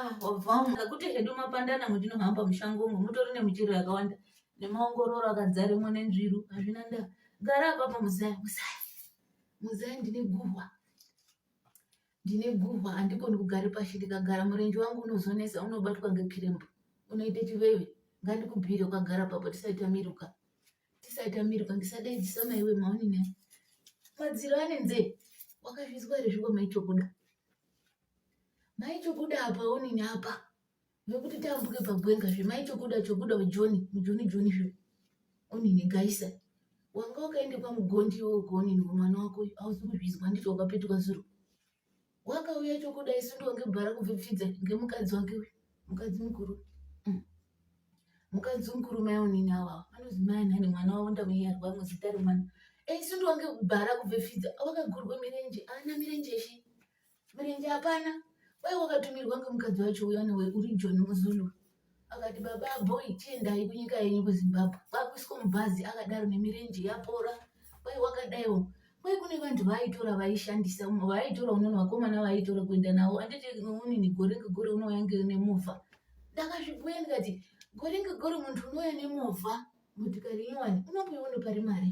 Ah, wabvamu ngakuti hedu mapandana mutinohamba mushango umo mutori nemichero yakawanda nemaongororo akadzaremo nenzviru hazvina ndaa gara apapo muzaya muzaya muzaya ndine guhwa ndine guhwa handikoni kugare pashi ndikagara murenje wangu unozonesa unobatwa ngekirembo unoite chiveve ngandikubhire ukagara papo tisaita miruka tisaita miruka ndisadaidzisa maiwe maonine madziro anenzee wakazvizwa here zvikomaichokuda maichokuda apa onini apa nekuti tambuke pagwenga zve maichokuda chokuda ujoni mujoni joni zve onini gaisa wanga wakaenda kwamugondi iwo kuonini mwana wako uyu ausi kuzvizwa nditi wakapetuka zuro wakauya chokuda isu ndonge bhara kupfipfidza ngemukadzi wake uyu mukadzi mukuru mm. mukadzi mukuru mai onini awa anozi mai nhani mwana wavo ndamunyarwa muzita remwana isu ndonge bhara kupfipfidza wakagurwa mirenje ana mirenje shi Mirenje hapana. Kwaiva wakatumirwa ngemukadzi wacho uya newe uri John Muzulu. Akati baba boy tiendai kunyika yenyu kuZimbabwe. Kwakuiswa mubhazi akadaro nemirenje yapora. Kwai wakadaiwo. Kwai kune vanhu vaaitora vaishandisa vaaitora unono vakomana vaaitora kuenda navo anditi unini gore ngegore unouya nemovha. Ndakazvibhuya ndikati gore ngegore munhu unouya nemovha motikari inyowani unomboiona pari mari.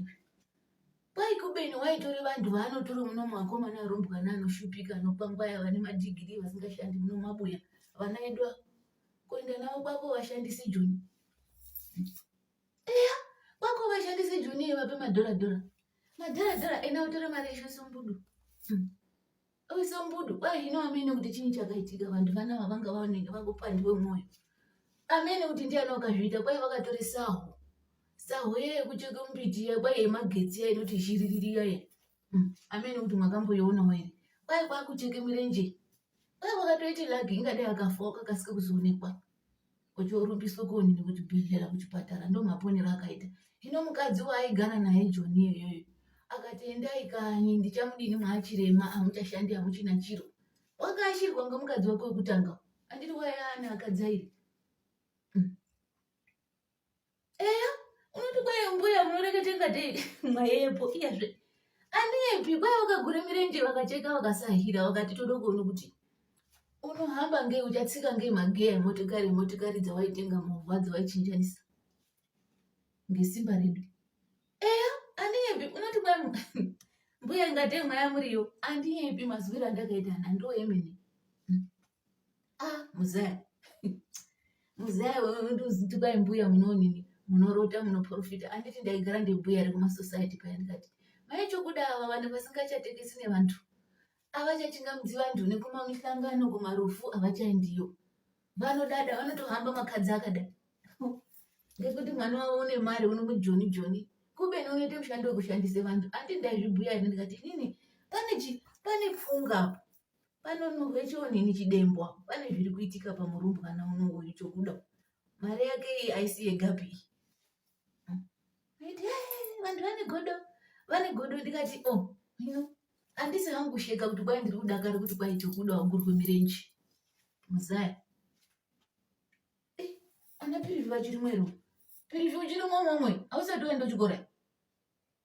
Kwai kubeni waitori vanhu vaanotori muno mwakomana arumbwana anoshupika anokwangwaya vane madhigirii vasingashandi muno mabuya vana edu ava kuenda navo kwako vashandisi joni eya kwako vashandisi joni iye vape madhora dhora madhora dhora ena utore mari yeshe sumbudu hmm. Iwe sambudu kwai zvino amene kuti chii chakaitika vantu vana vavanga vaoneka vakupandiwe mwoyo. Amene kuti ndiani wakazviita kwai vakatora saho. Saho yeye kucheka mbiti iya kwai yemagetsi iya inoti zhiririri iya iya. Hmm. Amene kuti mwakamboiona here. Kwai kwakucheka mirenje. Kwai wakatoita lagi ingadai akafa wakakasika kuzoonekwa. kuti orumbiswa kuonini kuchibhedhlera kuchipatara ndo maponero akaita hino mukadzi waaigara naye joni iyoyoyo akati endai kanyi ndichamudini mwaachirema amuchashandi amuchina chiro wakaashirwa ngemukadzi wake wekutanga andiri wayana akadzairi eya unoti kwaye mbuya munoreketa ingatei mwayepo iyazve andiyepi kwaye vakagura mirenje vakacheka vakasahira vakati toda kuona kuti unohamba ngei uchatsika ngei magiya emotikari emotikari dzawaitenga movha dzawaichinjanisa ngesimba redu eya andiyepi unoti kwaye mbuya ingatei mwaya muriyo andiyepi mazwiro andakaita ana ndo emene ah muzaya muzaya ndiuzitika mbuya munonini munorota munoprofita anditi ndaigara ndimbuya ari kumasociety paya ndikati mai chokuda ava vanhu vasingachatekesi nevantu avachachingamudzi vanhu nekuma mihlangano kumarufu avachaendiyo vanodada vanotohamba makadzi akada ngekuti mwana wavo une mari unomujoni joni kubeni unoite mushando wekushandisa vanhu andi ndaizvibhuya ini ndikati inini pane chi pane pfunga apo panonhuhwe chionini chidembwa pane zviri kuitika pamurumbwana uno uyu chokuda mari yake iyi aisi yegapi iyi vanhu vane godo vane godo ndikati o oh, hino handisi hangu kusheka kuti kwai ndiri kudakara kuti kwai chokuda wagurwe mirenje muzaya eh, ana pirivi vachirimwero pirivi uchirimwe momwe hausati waenda uchikora